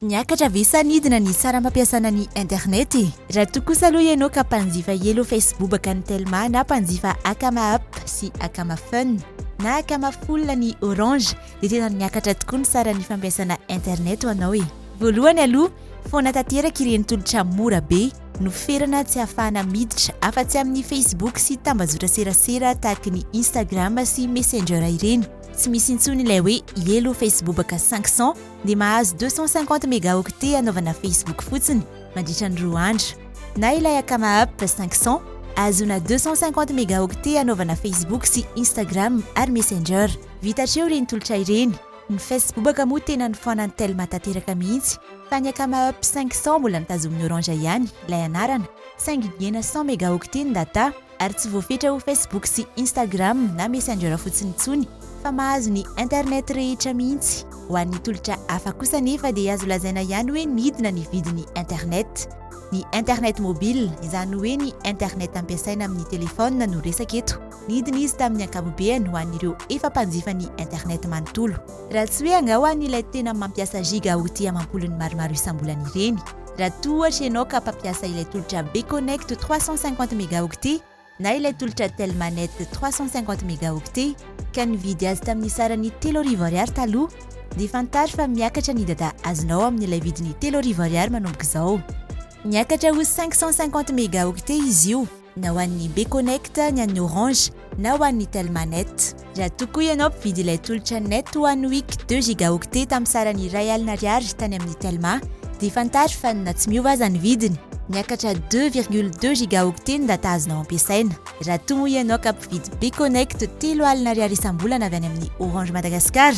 Niakatra ve sa nidina ny saram-pampiasana ny internet? Raha toa kosa aloha ianao ka mpanjifa Hello Facebook an'ny Telma na mpanjifa Akama App sy Akama Fun na Akama Full an'ny Orange dia tena niakatra tokoa ny saran'ny fampiasana internet ho anao e! Voalohany aloha, foana tanteraka ireny tolotra mora be no ferana tsy ahafahana miditra afa-tsy amin'ny Facebook sy tambazotra serasera tahaka ny Instagram sy Messenger ireny. Tsy misy intsony ilay hoe Hello Facebook cinq cents. dia mahazo deux cent cinquante mégaoctets anaovana Facebook fotsiny mandritra ny roa andro, na ilay Akama App cinq cents ahazoana deux cent cinquante mégaoctets anaovana Facebook sy Instagram ary Messenger. Vita hatreo ireny tolotra ireny. Ny Facebobaka moa tena nifoanan'i Telma tanteraka mihitsy fa ny Akama App cinq cents mbola notazomin'i Orange ihany ilay anarana saingy niena cent mégaoctets ny data. ary tsy voafetra ho Facebook sy Instagram na Messenger fotsiny intsony fa mahazo ny internet rehetra mihitsy. Ho an'ny tolotra hafa kosa anefa dia azo lazaina ihany hoe nidina ny vidin'ny internet. Ny internet mobile, izany hoe ny internet ampiasaina amin'ny telefaonina no resaka eto. Nidina izy tamin'ny ankapobeny ho an'ireo efa mpanjifa ny internet manontolo. Raha tsy hoe angaha ho an'ilay tena mampiasa giga outil amam-polony maromaro isam-bolana ireny. Raha toa ohatra ianao ka mpampiasa ilay tolotra Bconnect 350 megaoctet na ilay tolotra Telmanet 350 megaoctet ka nividy azy tamin'ny sarany telo arivo ariary taloha dia fantaro fa miakatra ny data azonao amin'ilay vidiny telo arivo ariary manomboka izao. Miakatra ho 550 megaoctet izy io. na ho an'ny Bconnect, ny an'ny Orange na ho an'ny Telma Net. Raha toa koa ianao mpividy ilay tolotra Net One Week deux gigaoctets tamin'ny sarany iray alina ariary tany amin'ny Telma, dia fantaro fa na tsy miova aza ny vidiny, miakatra deux virgule deux gigaoctets ny data azonao ampiasaina. Raha toa moa ianao ka mpividy Bconnect telo alina ariary isam-bolana avy any amin'ny Orange Madagascar,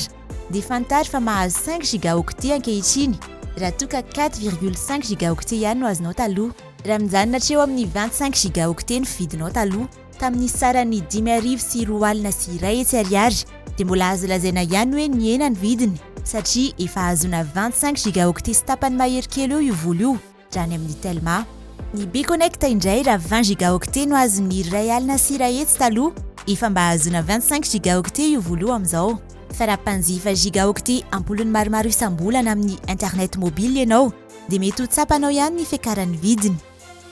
dia fantaro fa mahazo cinq gigaoctets ankehitriny, raha toa ka quatre virgule cinq gigaoctets ihany no azonao taloha. Raha mijanona hatreo amin'ny vingt cinq gigaoctets ny vidinao taloha, tamin'ny saran'ny dimy arivo sy roa alina sy iray hetsy ariary, dia mbola azo lazaina ihany hoe nihena ny vidiny satria efa ahazoana vingt cinq gigaoctets sy tapany mahery kely eo io vola io raha any amin'ny Telma. Ny Bconnect indray raha vingt gigaoctets no azon'ny iray alina sy iray hetsy taloha, efa mba ahazoana vingt cinq gigaoctets io vola io amin'izao. Fa raha mpanjifa gigaoctets am-polony maromaro isam-bolana amin'ny internet mobile ianao, dia mety ho tsapanao ihany ny fiakaran'ny vidiny.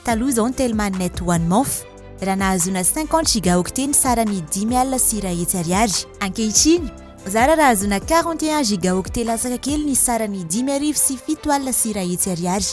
Taloha izao ny Telmah Net One Month raha nahazoana cinquante gigaoctets ny sarany dimy alina sy iray hetsy ariary. Ankehitriny, zara raha hahazoana quarante et un gigaoctets latsaka kely ny sarany dimy arivo sy fito alina sy iray hetsy ariary.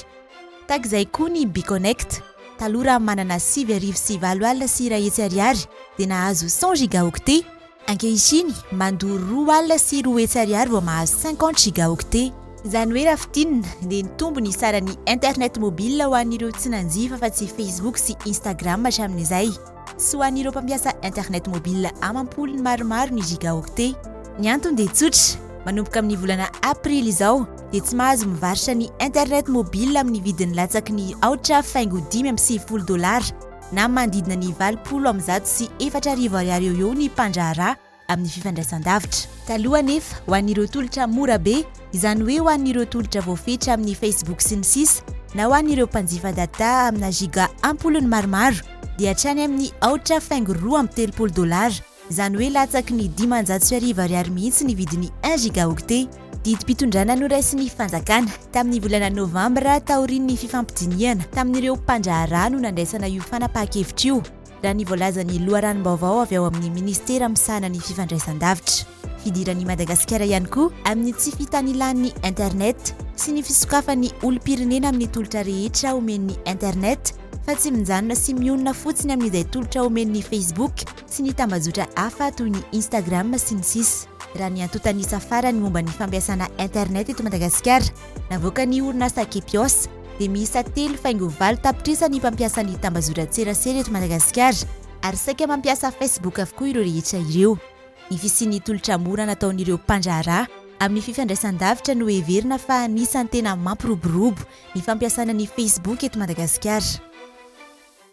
Tahaka izay koa ny Bconnect. Taloha raha manana sivy arivo sy valo alina sy iray hetsy ariary dia nahazo cent gigaoctets, Ankehitriny, mandoro roa alina sy roa hetsy ariary vao mahazo cinquante gigaoctets. Izany hoe raha fintinina, dia nitombo ny saran'ny internet mobile ho an'ireo tsy nanjifa afa-tsy Facebook sy Instagram hatramin'izay, sy ho an'ireo mpampiasa internet mobile amam-polony maromaro ny gigaoctets. Ny antony dia tsotra, manomboka amin'ny volana aprily izao dia tsy mahazo mivarotra ny internet mobile amin'ny vidiny latsaky ny aotra faingo dimy amby sivifolo dolara, na manodidina ny valopolo amin'ny zato sy efatra arivo ariary eo ho eo ny mpandraharaha amin'ny fifandraisandavitra. Taloha anefa, ho an'ireo tolotra mora be, izany hoe ho an'ireo tolotra voafetra amin'ny Facebook sy ny sisa, na ho an'ireo mpanjifa data amina giga am-polony maromaro, dia hatrany amin'ny aotra faingo roa amby telopolo dolara Izany hoe latsaky ny dimanjato sy arivo ariary mihitsy ny vidin'ny un gigaoctet. Didim-pitondrana noraisin'ny fanjakana, tamin'ny volana novambra taorian'ny fifampidinihana tamin'ireo mpandraharaha no nandraisana io fanapahan-kevitra io, raha ny voalazan'ny loharanom-baovao avy ao amin'ny minisitera misahana ny fifandraisandavitra. Hidiran'i Madagasikara ihany koa amin'ny tsy fitanilan'ny internet sy ny fisokafan'ny olom-pirenena amin'ny tolotra rehetra omen'ny internet fa tsy mijanona sy mionona fotsiny amin'izay tolotra omen'ny Facebook, sy ny tambajotra hafa toy ny Instagram sy ny sisa Raha ny antontan'isa farany momba ny fampiasana internet eto Madagasikara, navoakan'ny orinasa Kepios, dia miisa telo faingo valo tapitrisa ny mpampiasa ny tambazotran-tserasera eto Madagasikara, ary saika mampiasa Facebook avokoa ireo rehetra ireo. Ny fisian'ny tolotra mora nataon'ireo mpandraharaha amin'ny fifandraisan-davitra no heverina fa anisan'ny tena mampiroborobo ny fampiasana ny Facebook eto Madagasikara.